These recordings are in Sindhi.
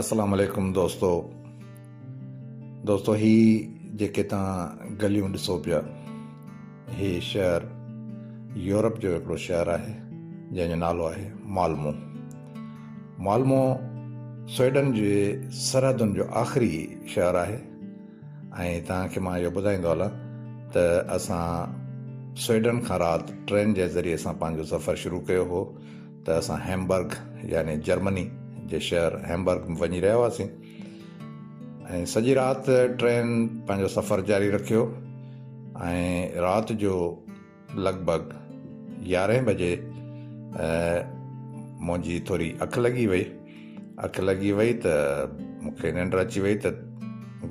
اسلام عليڪم دوستو دوستو هي جيڪي تان گليون ڏسو پيا هي شهر يورپ جو هڪڙو شهر آهي جنهن جو نالو آهي مالمو مالمو سوئيڊن جي سرحدن جو آخري شهر آهي ۽ تان کي مان اهو ٻڌائيندو هلان ته اسان سوئيڊن کان رات ٽرين جي ذريعي سان پنهنجو سفر شروع ڪيو هو ته اسان هيمبرگ يعني جرمني جي شهر هيمبرگ ۾ وڃي رهيا هئاسين ۽ سڄي رات ٽرين پنهنجو سفر جاري رکيو ۽ رات جو لڳ ڀڳ يارهين بجي منهنجي ٿوري اک لڳي وئي اک لڳي وئي ته مونکي ننڊ اچي وئي ته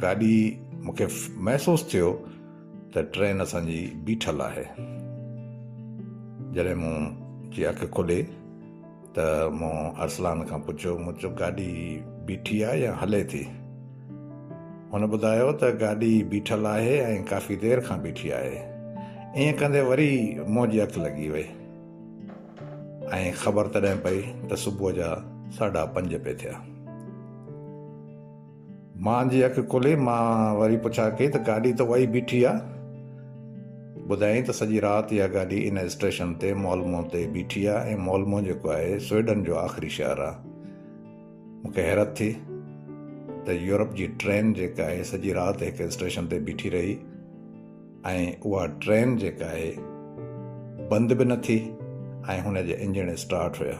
گاڏي مونکي محسوس ٿيو ته ٽرين اسان جي بيٺل آهي. جڏهن مون جي اک کلي ته مون ارسلان کان پڇيو مون چيو گاڏي بيٺي آهي يا هلي ٿي؟ هن ٻڌايو ته گاڏي بيٺل آهي ۽ ڪافي دير کان بيٺي آهي. ائين ڪندي وري مون جي اک لڳي وئي ۽ خبر تڏهن پئي ته صبح جا ساڍا پنج پئي ٿيا. مان جي اک کلي، مان وري پڇا ڪئي ته گاڏي ته اها ئي بيٺي آ. ٻڌايائين ته سڄي رات اها گاڏي ان اسٽيشن تي مالمو تي بيٺي آ ۽ مالمو جيڪو آهي سوئيڊن جو آخري شهر آ. مون کي حيرت ٿي ته يورپ جي ٽرين جيڪا آهي سڄي رات هڪ اسٽيشن تي بيٺي رهي ۽ اها ٽرين جيڪا آهي بند به نه ٿي ۽ هن جي انجڻ اسٽارٽ هيا.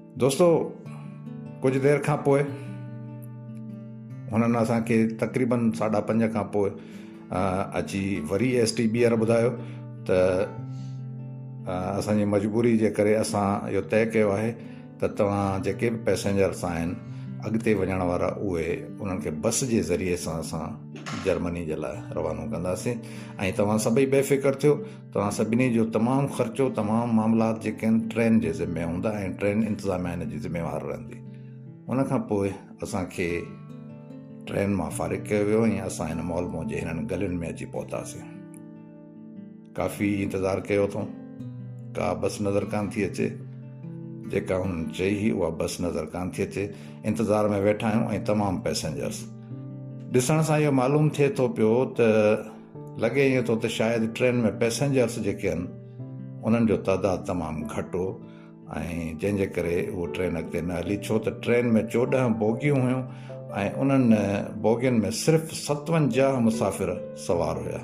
دوستو ڪجهه دير کان پوء هنن اسان کي تقريبن ساڍا پنج کان پوء اچي وري ايس ٽي بيئر ٻڌايو ته اسانجي مجبوري جي ڪري اسان اهو طئي ڪيو آهي ته توهان جيڪي به پئسينجرس آهن اڳتي وڃڻ وارا اهي انهن کي بس جي ذريعي سان اسان جرمني جي لاء روانو ڪنداسين ۽ توهان سڀئي بي فڪر ٿيو توهان سڀني جو تمام خرچو، تمام معاملات جيڪي آهن ٽرين جي ذمي هوندا ۽ ٽرين انتظاميا ان جي ذميوار رهندي. ان کان پوء اسان کي ٽرين مان فارغ ڪيو ويو ۽ اسان هن مال مون جي هنن گلين ۾ اچي پهتاسين. ڪافي انتظار ڪيو اٿئون. ڪا بس نظر ڪانه ٿي اچي. جيڪا هن چئي هئي اها بس نظر ڪانه ٿي اچي. انتظار ۾ ويٺا آهيون ۽ تمام پئسنجرس. ڏسڻ سان اهو معلوم ٿئي ٿو پيو ته لڳي ائين ٿو ته شايد ٽرين ۾ پئسينجرس جيڪي آهن انهن جو تعداد تمام گهٽ هو ۽ جنهن جي ڪري اهو ٽرين اڳتي نه هلي ڇو ته ٽرين ۾ چوڏهن بوگيون هيون ۽ انهن بوگين ۾ صرف ستونجاهه مسافر سوار هيا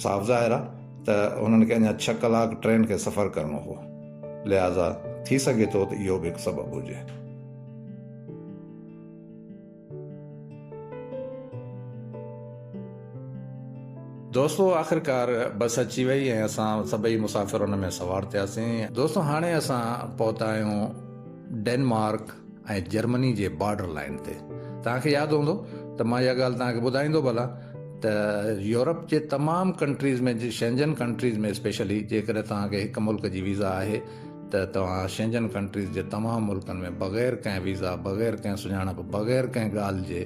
صاف ظاهر آهي ته انهن کي اڃا ڇهه ڪلاڪ ٽرين کي سفر ڪرڻو هو لهٰذا ٿي سگهي ٿو ته اهو به هڪ سبب هجي دوستو آخرڪار بس اچي وئي ۽ اسان سڀئي مسافر ان ۾ سوار ٿياسين. دوستو هاڻي اسان پهتا آهيون ڊينمارڪ ۽ جرمني جي بارڊر لائين تي. توهان کي ياد هوندو ته مان اها ڳالهه توهان کي ٻڌائيندو به هلان ته يورپ جي تمام ڪنٽريز ۾ شينجن ڪنٽريز ۾ اسپيشلي جيڪڏهن توهان کي هڪ ملڪ جي ويزا آهي ته توهان شينجن ڪنٽريز جي تمام ملڪن ۾ بغير ڪنهن ويزا، بغير ڪنهن سڃاڻپ، بغير ڪنهن ڳالهه جي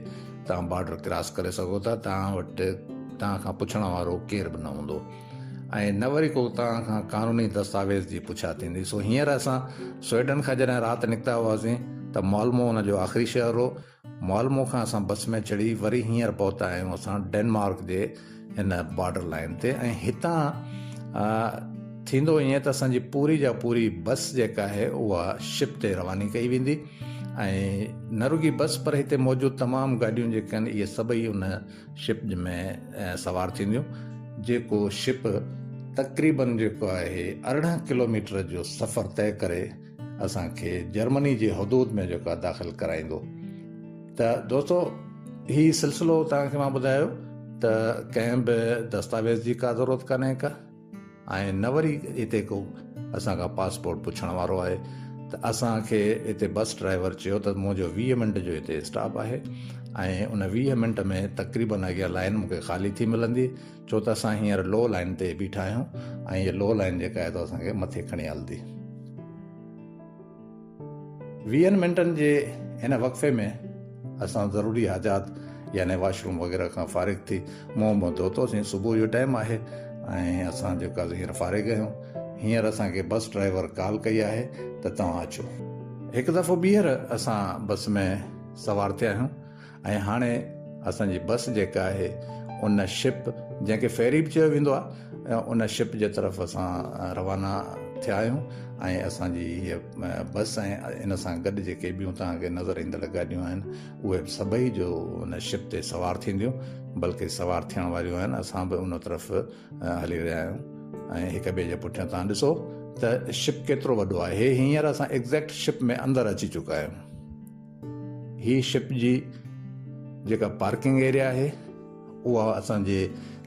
توهان بارڊر ڪراس ڪري سگهو ٿا، توهان وٽ توهان کان پڇڻ وارو ڪير به نه هوندو ۽ نه وري ڪو توهان کان قانوني دستاويز جي پڇا ٿيندي. سو هينئر اسان سوئيڊن کان جڏهن رات نڪتا هئاسين ته مالمو ان جو آخري شهر هو. مالمو کان اسان بس ۾ چڙهي وري هينئر پهتا آهيون اسان ڊينمارڪ جي هن بارڊر لائن تي ۽ هتان ٿيندو ائين ته اسان جي پوري جا پوري بس جيڪا آهي اها شپ تي رواني ڪئي ويندي ۽ نه رڳي بس پر هتي موجود تمام گاڏيون جيڪي آهن اهي سڀئي ان شپ ۾ سوار ٿينديون جيڪو شپ تقريبن جيڪو آهي ارڙهن ڪلوميٽر جو سفر طئي ڪري اسان کي جرمني جي حدود ۾ جيڪا داخل ڪرائيندو ته دوستو هي سلسلو تان کي مان ٻڌايو ته ڪنهن به دستاويز جي کا ضرورت ڪانهي کا ۽ نه وري هتي ڪو اسان کان پاسپورٽ پڇڻ وارو آهي ته اسان کي هتي بس ڊرائيور چيو ته منهنجو ويهه منٽ جو هتي اسٽاپ آهي ۽ ان ويهه منٽ ۾ تقريبن اڳيان لائن مون کي خالي ٿي ملندي ڇو ته اسان هينئر لو لائين تي بيٺا آهيون ۽ هيء لو لائين جيڪا آهي سو اسان کي مٿي کڻي هلندي. ويهن منٽن جي هن وقفي ۾ اسان ضروري حاجات يعني واش روم وغيره کان فارغ ٿي منهن منهن ڌوتوسين. صبح جو ٽائيم آهي ۽ اسان جيڪو آهي سو هينئر فارغ آهيون. هينئر اسان کي بس ڊرائيور ڪال ڪئي آهي ته توهان اچو. هڪ دفعو ٻيهر اسان بس ۾ سوار ٿيا آهيون. ۽ هاڻي اسان جي بس جيڪا آهي ان شپ جنهن کي فيري به چيو ويندو آهي ان شپ جي طرف اسان روانا ٿيا آهيون ۽ اسان جي هيء بس ۽ ان سان گڏ جيڪي ٻيون توهان کي نظر ايندڙ گاڏيون آهن اهي به سڀئي جو ان شپ تي سوار ٿينديون بلڪه سوار ٿيڻ واريون آهن اسان به ان طرف هلي رهيا آهيون ۽ هڪ ٻئي جي پٺيان تان ڏسو ته شپ ڪيترو وڏو آهي هينئر اسان ايگزيڪٽ شپ ۾ اندر اچي چڪا آهيون هي شپ جي جيڪا پارڪنگ ايريا آهي اها اسان جي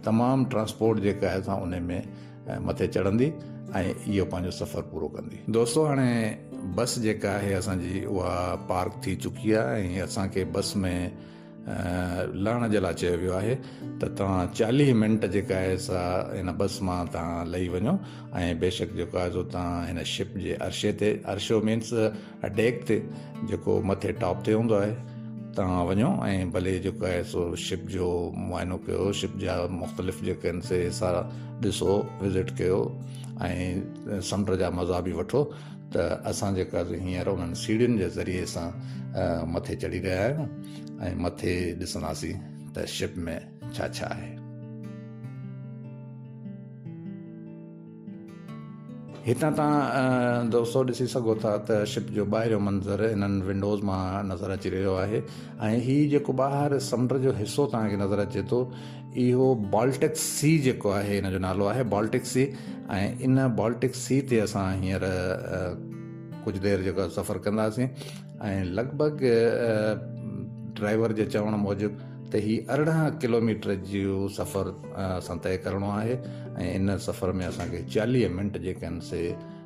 تمام ٽرانسپورٽ جيڪا آهي سا ان ۾ مٿي چڙهندي ۽ اهو پنهنجو سفر پورو ڪندي دوستو هاڻي بس جيڪا آهي اسان جي اها پارڪ ٿي چڪي آهي ۽ اسان کي بس ۾ لهڻ جي لاء چيو ويو آهي ته توهان چاليهه منٽ جيڪا آهي سا هن بس مان توهان لهي وڃو ۽ بيشڪ جيڪو آهي سو توهان هن شپ جي عرشي تي عرشو مينس ڊيڪ تي جيڪو مٿي ٽاپ تي هوندو آهي توهان وڃو ۽ ڀلي جيڪو آهي سو شپ جو معائنو ڪيو شپ جا مختلف جيڪي آهن سي سارا ڏسو وزٽ ڪيو ۽ سمنڊ جا مزا بي وٺو ته اسان جيڪا هينئر انهن سيڙهين جي ذريعي سان مٿي چڙهي رهيا آهيون ۽ مٿي ڏسنداسين ته شپ ۾ ڇا ڇا آهي هتان تان دوستو ڏسي سگهو ٿا ته شپ جو ٻاهريون منظر انهن ونڊوز مان نظر اچي رهيو آهي ۽ هي جيڪو ٻاهر سمنڊ جو حصو تهان کي نظر اچي ٿو اهو بالٽڪ سي جيڪو آهي ان جو نالو آهي بالٽڪ سي ۽ ان بالٽڪ سي تي اسان هينئر ڪجهه دير جيڪو سفر ڪنداسين ۽ لڳ ڀڳ ڊرائيور جي چوڻ موجب ته هي ارڙهن ڪلوميٽر جو سفر اسان طئي ڪرڻو آهي ۽ ان سفر ۾ اسان کي چاليهه منٽ جيڪي آهن سي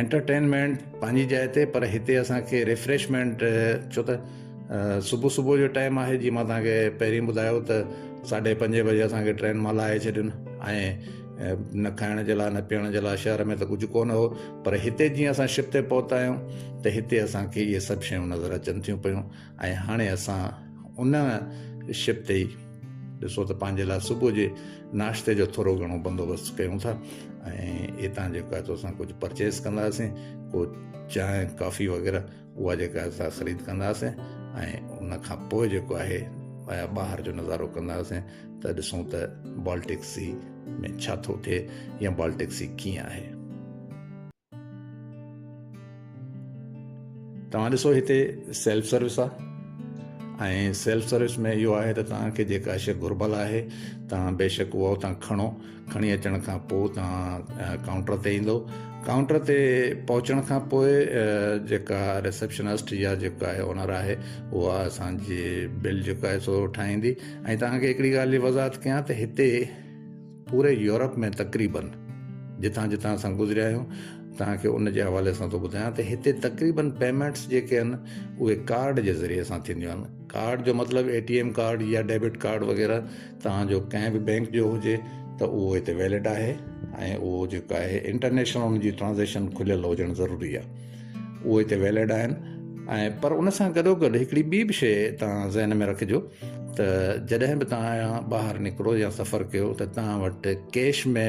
انٽرٽينمينٽ پنهنجي جاء تي پر هتي اسان کي ريفريشمينٽ ڇو ته صبح صبح جو ٽائيم آهي جي مان تان کي پهرين ٻڌايو ته ساڍي پنجين بجي اسان کي ٽرين مان لاهي ڇڏين ۽ نه کائڻ جي لاء نه پيئڻ جي لاء شهر ۾ ته ڪجهه ڪو نه هو پر هتي جيئن اسان شپ تي پهتا آهيون ته هتي اسان کي اهي سڀ شيون نظر اچن ٿيون پيون ۽ هاڻي اسان ان شپ تي ئي ڏسو ته پنهنجي لاء صبح جي ناشتي جو ٿورو گهڻو بندوبست ڪيون ٿا ۽ اتان جيڪو آهي اسان ڪجهه پرچيز ڪنداسين ڪو چانهه ڪافي وغيره اها جيڪا اسان خريد ڪنداسين ۽ ان کان پوء جيڪو آهي ٻاهر جو نظارو ڪنداسين ته ڏسون ته بالٽڪ سي ۾ ڇا ٿو ٿئي يا بالٽڪ سي ڪيئن آهي توهان ڏسو هتي سيلف سروس آ ۽ سيلف سروس ۾ اهو آهي ته توهان کي جيڪا شي گهربل آهي توهان بيشڪ اها توهان کڻو کڻي اچڻ کان پوء توهان ڪائونٽر تي ايندو ڪائونٽر تي پهچڻ کان پوء جيڪا رسپشنسٽ يا جيڪا آهي اونر آهي اها اسانجي بل جيڪا آهي سو ٺاهيندي ۽ توهان کي هڪڙي ڳالهه جي وضاحت ڪيان ته هتي پوري يورپ ۾ تقريبن جتان جتان اسان گذريا آهيون توهان کي ان جي حوالي سان ٿو ٻڌايان ته هتي تقريبن پيمنٽس جيڪي آهن اهي ڪارڊ جي ذريعي سان ٿينديون آهن ڪارڊ جو مطلب اي ٽي ايم ڪارڊ يا ڊيبٽ ڪارڊ وغيره توهان جو ڪنهن به بينڪ جو هجي ته اهو هتي ويلڊ آهي ۽ اهو جيڪو آهي انٽرنيشنل ان جي ٽرانزيڪشن کليل هجڻ ضروري آهي اهو هتي ويلڊ آهن ۽ پر ان سان گڏو گڏ هڪڙي ٻي به شيء توهان ذهن ۾ رکجو ته جڏهن به توهان ٻاهر نڪرو يا سفر ڪيو ته توهان وٽ ڪيش ۾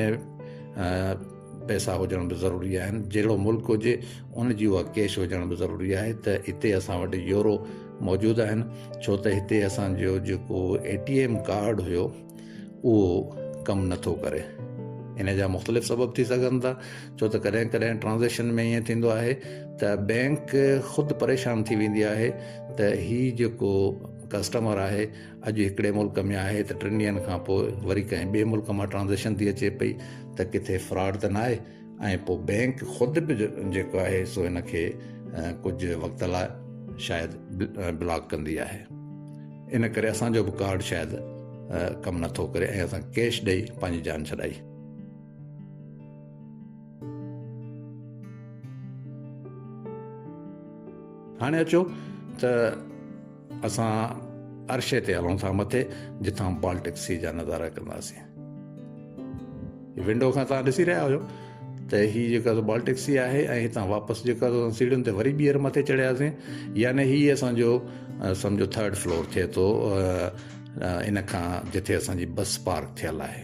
پئسا هجڻ به ضروري آهن جهڙو ملڪ هجي ان جي اها ڪيش هجڻ به ضروري آهي ته هتي اسان وٽ يورو موجود آهن ڇو ته هتي اسانجو جيڪو اي ٽي ايم ڪارڊ هيو اهو ڪم نٿو ڪري ان جا مختلف سبب ٿي سگهن ٿا ڇو ته ڪڏهن ڪڏهن ٽرانزيڪشن ۾ ائين ٿيندو آهي ته بينڪ خود پريشان ٿي ويندي آهي ته هي جيڪو ڪسٽمر آهي اڄ هڪڙي ملڪ ۾ آهي ته ٽن ڏينهن کان پوء وري ڪنهن ٻئي ملڪ مان ٽرانزيڪشن ٿي اچي پئي ته ڪٿي فراڊ ته ناهي ۽ پوء بئنڪ خود به جيڪو آهي سو هن کي ڪجهه وقت لاء شايد بلاڪ ڪندي آهي ان ڪري اسان جو به ڪارڊ شايد ڪم نٿو ڪري ۽ اسان ڪيش ڏئي پنهنجي جان ڇڏائي هاڻي اچو ته اسان عرشي تي هلون ٿا مٿي جتان بالٽڪ سي جا نظارا ڪنداسين ونڊو کان تان ڏسي رهيا هيو ته هي جيڪا بالٽڪ سي آهي ۽ هتان واپس جيڪا سيڙهين تي وري ٻيهر مٿي چڙهياسين يعني هي اسان جو سمجھو ٿرڊ فلور ٿئي ٿو ان کان جتي اسان جي بس پارڪ ٿيل آهي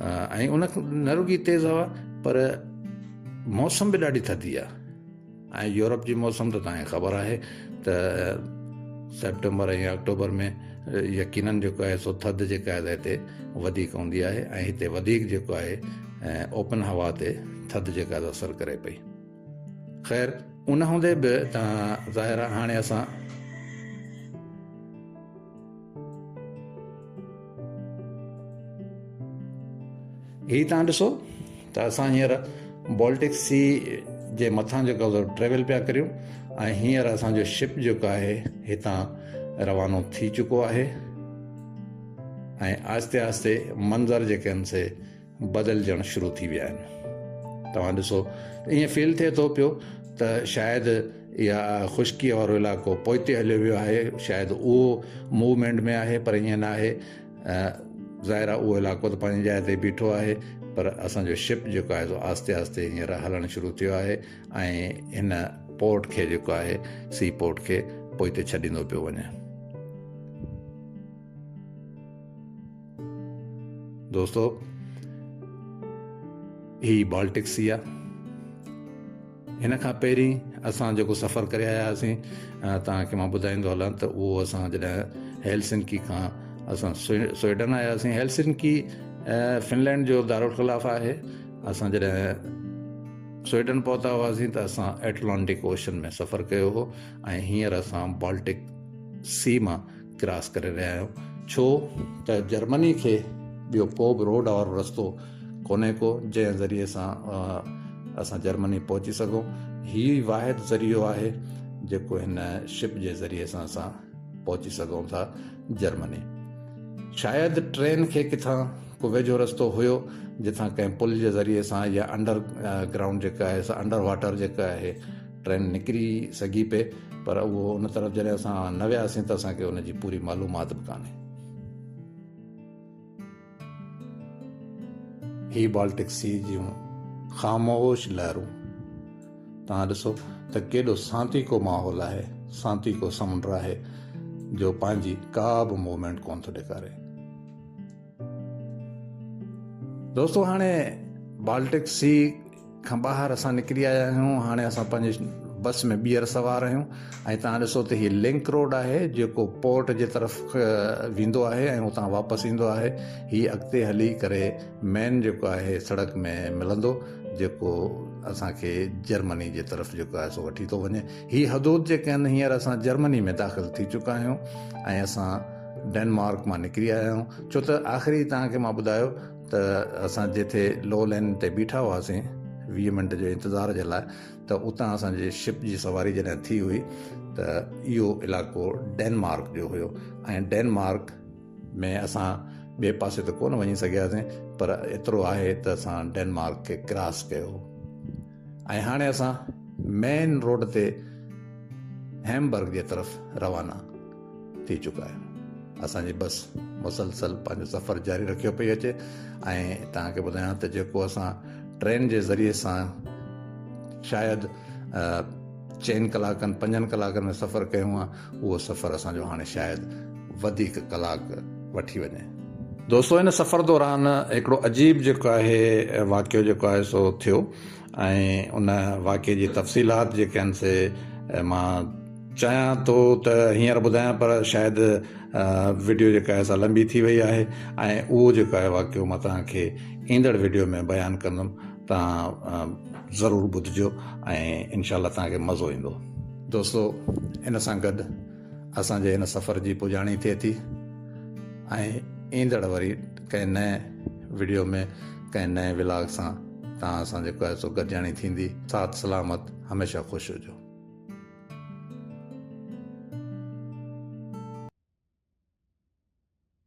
۽ ان نه رڳي تيز هوا پر موسم به ڏاڍي ٿڌي آهي ۽ يورپ جي موسم ته تنهنکي خبر آهي ته سيپٽمبر ۽ آڪٽوبر ۾ يقينن جيڪو آهي سو ٿڌ جيڪا آهي هتي وڌيڪ هوندي آهي ۽ هتي وڌيڪ جيڪو آهي اوپن هوا تي ٿڌ جيڪا آهي اثر ڪري پئي خير ان هوندي به ظاهر هاڻي اسان هي تان ڏسو ته اسان هينئر بالٽڪ سي جي مٿان جيڪو ٽريول پيا ڪريون ۽ هينئر اسانجو شپ جيڪو آهي هتان روانو ٿي چڪو آهي ۽ آهستي آهستي منظر جيڪي آهن سي بدلجڻ شروع ٿي ويا آهن توهان ڏسو ائين فيل ٿئي ٿو پيو ته شايد اها خشڪيء وارو علائقو پوئتي هليو ويو آهي شايد اهو موومينٽ ۾ آهي پر ائين نه آهي ظاهر آهي اهو علائقو ته پنهنجي جاء تي بيٺو آهي پر اسانجو شپ جيڪو آهي سو آهستي آهستي هينئر هلڻ شروع ٿيو آهي ۽ هن پورٽ کي جيڪو آهي سي پورٽ کي پوئتي ڇڏيندو پيو وڃي دوستو هي بالٽڪ سي آ هن کان پهرين اسان جيڪو سفر ڪري آيا هئاسين تان کي مان ٻڌائيندو هلان ته اهو اسان جڏهن هيلسنڪي کان اسان سوئيڊن آيا هئاسين هيلسنڪي فنلينڊ جو دارالخلاف آهي اسان جڏهن سوئيڊن پهتا هئاسين ته اسان ايٽلانٽڪ اوشن ۾ سفر ڪيو هو ۽ هينئر اسان بالٽڪ سي مان ڪراس ڪري رهيا آهيون ڇو ته جرمني کي ٻيو ڪو به روڊ وارو رستو ڪونهي ڪو جنهن ذريعي سان اسان جرمني پهچي سگهون هي واحد ذريعو آهي جيڪو هن شپ جي ذريعي سان اسان پهچي سگهون ٿا جرمني شايد ٽرين کي ڪٿان ڪو ويجهو رستو هيو جتان ڪنهن پل جي ذريعي سان يا انڊر گرائونڊ جيڪا آهي سا انڊر واٽر جيڪا آهي ٽرين نڪري سگهي پئي پر اهو ان طرف جڏهن اسان نه وياسين ته اسان کي ان جي پوري معلومات به ڪانهي. هي بالٽڪ سي جون خاموش لهرون توهان ڏسو ته ڪيڏو سانتيڪو ماحول آهي سانتيڪو سمنڊ آهي جو پنهنجي ڪا به موومينٽ ڪونه ٿو ڏيکاري دوستو هاڻي بالٽڪ سي کان ٻاهر اسان نڪري آيا آهيون هاڻي اسان پنهنجي بس ۾ ٻيهر سوار آهيون ۽ تان ڏسو ته هي لنڪ روڊ آهي جيڪو پورٽ جي طرف ويندو آهي ۽ اتان واپس ايندو آهي هي اڳتي هلي ڪري مين جيڪو آهي سڙڪ ۾ ملندو جيڪو اسان کي جرمني جي طرف جيڪو آهي سو وٺي ٿو وڃي هي حدود جيڪي آهن هينئر اسان جرمني ۾ داخل ٿي چڪا آهيون ۽ اسان ڊينمارڪ مان نڪري آيا آهيون ڇو ته آخري تان کي مان ٻڌايو ته اسان جتي لو لين تي بيٺا هئاسين ويهه منٽ جي انتظار جي لاء ته اتان اسان جي شپ جي سواري جڏهن ٿي هئي ته اهو علائقو ڊينمارڪ جو هيو ۽ ڊينمارڪ ۾ اسان ٻئي پاسي ته ڪونه وڃي سگهياسين پر ايترو آهي ته اسان ڊينمارڪ کي ڪراس ڪيو ۽ هاڻي اسان مين روڊ تي هيمبرگ جي طرف روانا ٿي چڪا آهن اسان جي بس مسلسل پنهنجو سفر جاري رکيو پئي اچي ۽ توهان کي ٻڌايان ته جيڪو اسان ٽرين جي ذريعي سان شايد چئن ڪلاڪن پنجن ڪلاڪن ۾ سفر ڪيون آ اهو سفر اسان جو هاڻي شايد وڌيڪ ڪلاڪ وٺي وڃي دوستو ان سفر دوران هڪڙو عجيب جيڪو آهي واقعو جيڪو آهي سو ٿيو ۽ ان واقعي جي تفصيلات جيڪي آهن سي مان چاهيان ٿو ته هينئر ٻڌايان پر شايد وڊيو جيڪا آهي سا لنبي ٿي وئي آهي ۽ اهو جيڪو آهي واقعو مان توهان کي ايندڙ وڊيو ۾ بيان ڪندم توهان ضرور ٻڌجو ۽ انشاء الله توهان کي مزو ايندو دوستو ان سان گڏ اسان جي هن سفر جي پڄاڻي ٿئي ٿي ۽ ايندڙ وري ڪنهن نئين وڊيو ۾ ڪنهن نئين ولاگ سان توهان سان جيڪو آهي سو گڏجاڻي ٿيندي صحت سلامت هميشه خوش هجو.